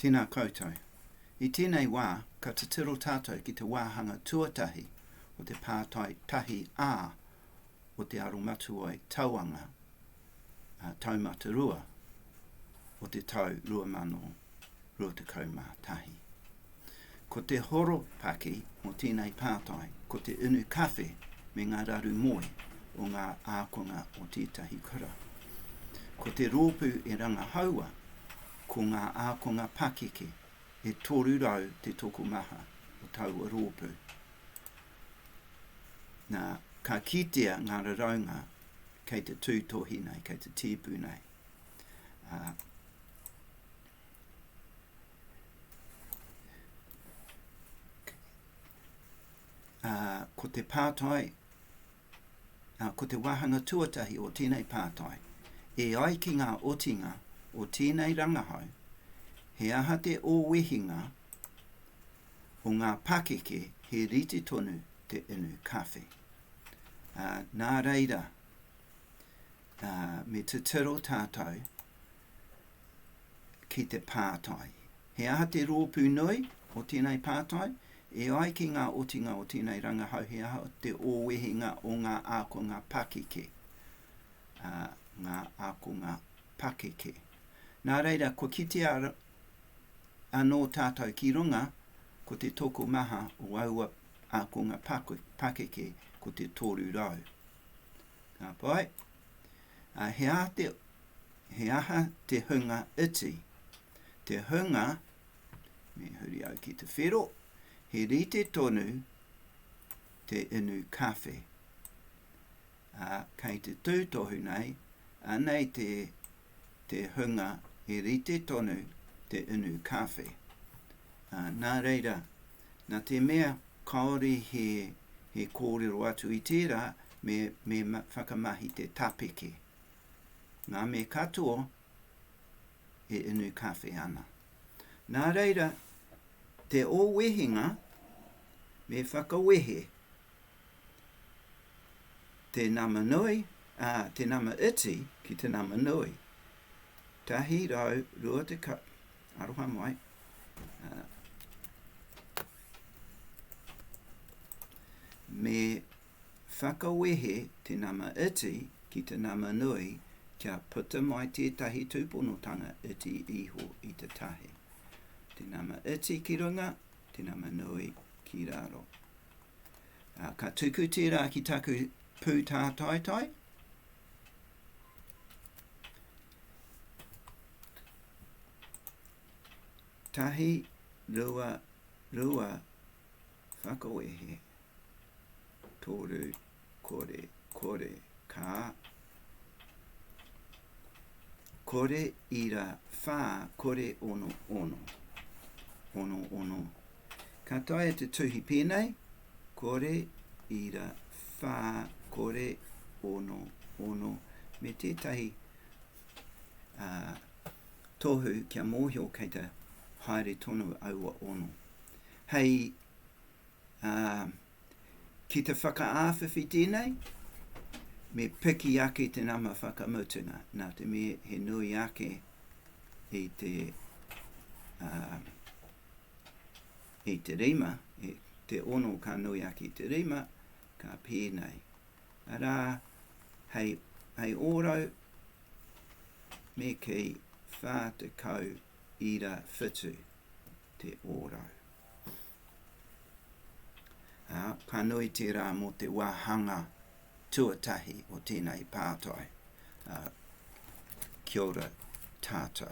Tēnā koutou. I tēnei wā, ka titiro tātou ki te wāhanga tuatahi o te pātai tahi A o te aromatuai tauanga taumata rua o te tau 2021. Ko te horopaki o tēnei pātai ko te unu kawhe me ngā raru moe o ngā ākonga o tētahi kura. Ko te rōpū e rangahaua ko ngā ākonga pakeke, e 300 te tokomaha o taua rōpū. Nā, ka kitea ngā raraunga kei te tūtohi nei, kei te tēpu nei. Ā. Ā, ko te pātai, ā, ko te wāhanga tuatahi o tēnei pātai, e ai ki ngā otinga o tēnei rangahau, he aha te ōwehinga o ngā pakeke he rite tonu te inu kawhe? Ā, nā reira, ā, me titiro tātou ki te pātai, He aha te rōpū nui o tēnei pātai? E ai ki ngā otinga o tēnei rangahau he aha te ōwehenga o ngā ākonga pakeke? Ā, ngā ākonga pakeke. Nā reira, kua kitea anō tātou ki runga, ko te tokomaha o aua ākonga pakeke ko te 300. Ka pai? Ā, he aha te He aha te hunga iti? Te hunga, me huri au ki te whero, he rite tonu te inu kawhe. A, kei te tūtohu nei, anei te, te hunga he rite tonu te inu kawhe. A, nā reira, nā te mea kāore he, he kōrero atu i tērā, me, me whakamahi te tapeke. Ngā me katoa e inu kawhe ana. Nā reira, te o wehenga me whakawehe te nama nui, ā, te nama iti ki te nama nui. 120, aroha mai, ā, me Whakawehe te nama iti ki te nama nui kia puta mai tētahi tūponotanga iti iho i te tahi. Te nama iti ki runga, te nama nui ki raro. Ā, ka tuku tērā ki taku pūtātaitai. Tahi, rua, rua, whakawehe toru kore kore ka kore ira wha kore ono ono ono ono ka taia te tuhi pēnei kore ira wha kore ono ono me tētahi uh, tohu kia mōhio kei te haere tonu aua ono. Hei ā, ki te whakaāwhiwhi tēnei, me piki ake te nama whakamutunga, nā te mea he nui ake i te, ā, i te rima, i te ono ka nui ake i te rima, ka pēnei. Arā, hei, hei ōrau me kei 40 ira whitu. te ōrau. Ā, ka nui tērā mō te wāhanga tuatahi o tēnei pātai. Ā, kia ora tātou.